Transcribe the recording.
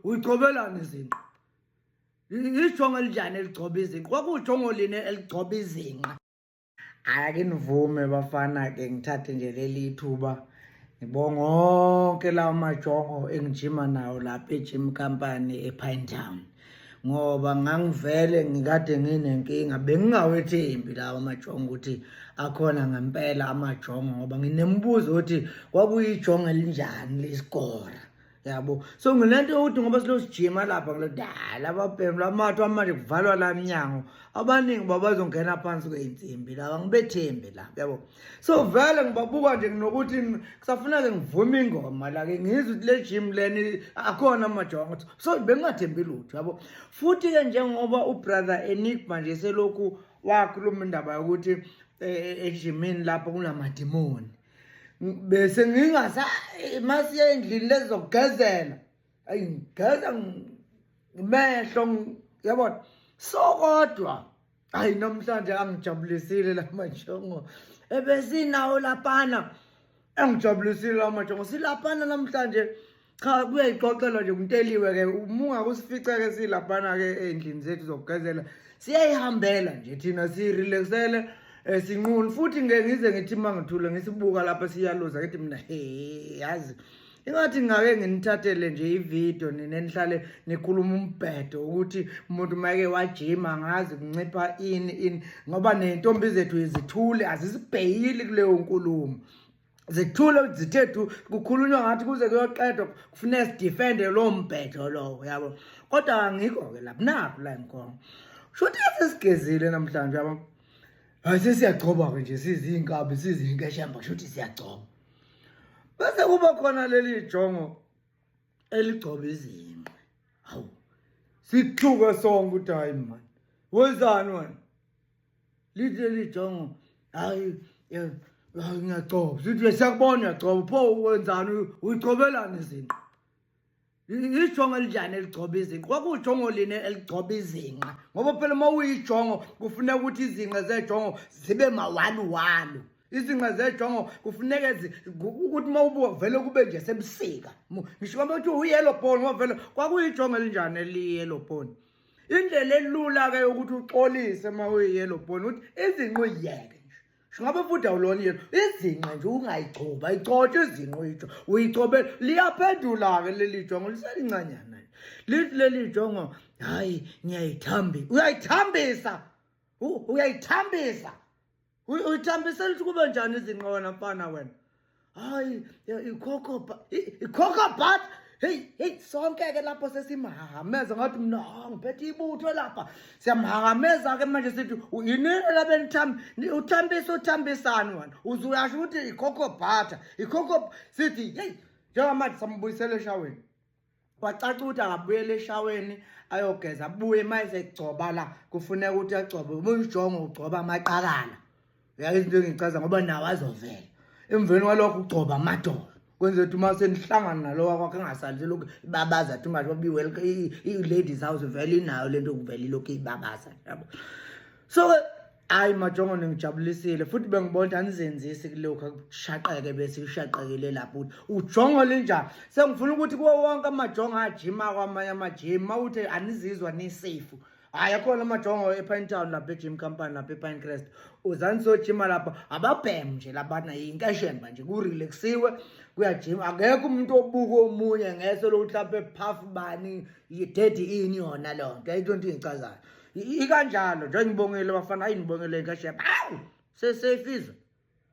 uyigcobelani izinqa ijongo elinjani eligcoba izinqa kwakujongo line eligcoba izinqa ake nivume bafana ke ngithathe nje leli thuba ngibonga onke lawo majongo engijima nawo lapha ejim company epine town ngoba ngangivele ngikade nginenkinga bengingawethembi lawa majongo ukuthi akhona ngempela amajongo ngoba nginemibuzo ukuthi kwakuyijongo elinjani lesikora yabo so ngile nto yokuthi ngoba silosijima lapha kule dala ababhemu lamathi amanje kuvalwa la mnyango abaningi uba bazongena phansi kwey'nsimbi laba ngibethembi la yabo so vele ngibabuka nje nginokuthi kusafuneke ngivume ingoma la-ke ngizwe ukuthi le jim leni akhona amajongo ukuthi so bengingathembi lutho yabo futhi-ke njengoba ubrother enigma nje selokhu wakhuluma indaba yokuthi eh, eh, ejimini lapho kunamadimoni bese ngingasa masiye endlini lezokugezela ayi ngigeza ngimehlo yabona so kodwa hayi namhlanje angijabulisile la majongo ebesinawo lapana engijabulisile la majongo silapana namhlanje cha kube yixoxelo nje umteliwe ke umunga kusifica ke silaphana ke endlini zethu zokugezela siyayihambela nje thina sirelaxele eh, sinquni futhi ngeke ngize ngithi mangithule ngisibuka lapha siyaluza ngithi mina he yazi ingathi ngake nginithathele nje ividiyo nina nihlale nikhuluma umbhedo ukuthi umuntu mayeke wajima ngazi kuncipha ini ini ngoba ney'ntombi zethu izithule azisibheyili kuleyo nkulumo zithule zithe du kukhulunywa ngathi kuze kuyoqedwa kufuneka sidefende loo mbhedo lowo yabo kodwa angikho ke lapho nakho la ngikhona shuthi sesigezile namhlanje yabo hayi sesiyagcoba-ke nje siziinkabi sizinkeshemba shuthi siyagcoba bese kuba khona leli jongo eligcoba izinqe hawu sithuke sonke ukuthi hayi mani wenzani wena lithi leli jongo hayi eh, hayi ngiyagcoba sithi siyakubona uyagcoba pho wenzani uyigcobelani izinqa ijongo elinjani eligcoba izinqa kwakujongo line eligcoba izinqa ngoba phela uma uyijongo kufuneka ukuthi izinqa zejongo zibe mawaluwalu izinqa zejongo kufuneka ukuthi uma ubuka vele kube nje sebusika ngisho kwaba kuthiwa uyellow bone ngoba vele kwakuyijongo elinjani eliyellow bone indlela elula ke yokuthi uxolise uma uyiyellow bone ukuthi izinqo iyeke Ngabe futhi awulona yena izinqa nje ungayigcoba igcotshwe izinqa uyijo uyigcobe liyaphendula ke leli jongo liselincanyana nje lithi leli jongo hayi ngiyayithambisa uyayithambisa uyayithambisa uyithambisela ukuthi kube njani izinqona mfana wena hayi ikhokho ikhokho but hey hey sonke ke lapho sesimhahameza ngathi mina ngiphethe ibutho lapha siyamhahameza ke manje sithi yini labe nithambi uthambisa uthambisani wena uzuyasho ukuthi ikhokho butter ikhokho sithi hey njengamanje sambuyisela eshaweni kwacaca ukuthi akabuyele eshaweni ayogeza abuye uma esegcoba la kufuneka ukuthi agcobe ubuyijongo ugcoba amaqakala yazi into engichaza ngoba nawo azovela emveni kwalokho ugcoba amadolo kwenze ukuthi uma senihlangana nalowa kwakhe engasali selokhu ibabaza thi ungathi babiwel i-ladies house vele inayo le nto kuvele ilokhu ibabaza yabo so Hayi majongo ningijabulisile futhi bengibona ukuthi anizenzisi kulokhu akushaqeke bese ushaqekile lapho ukuthi ujongo linjani sengifuna ukuthi kuwo wonke amajongo ajima kwamanye amajim uma uthi anizizwa nisafe hhayi akhona amajongo epine town lapha ejim company lapha epine crest uzani sojima lapha ababheme nje labana yinkeshemba nje kurelaxiwe kuyajima akekho umuntu obuka omunye ngeso lokuthi lapha ephafu bani yidedi ini yona leyo nto ayinto nto ingicazayo ikanjalo njengoba ngibongile bafana ayinibongele kahle awu seseyifizwe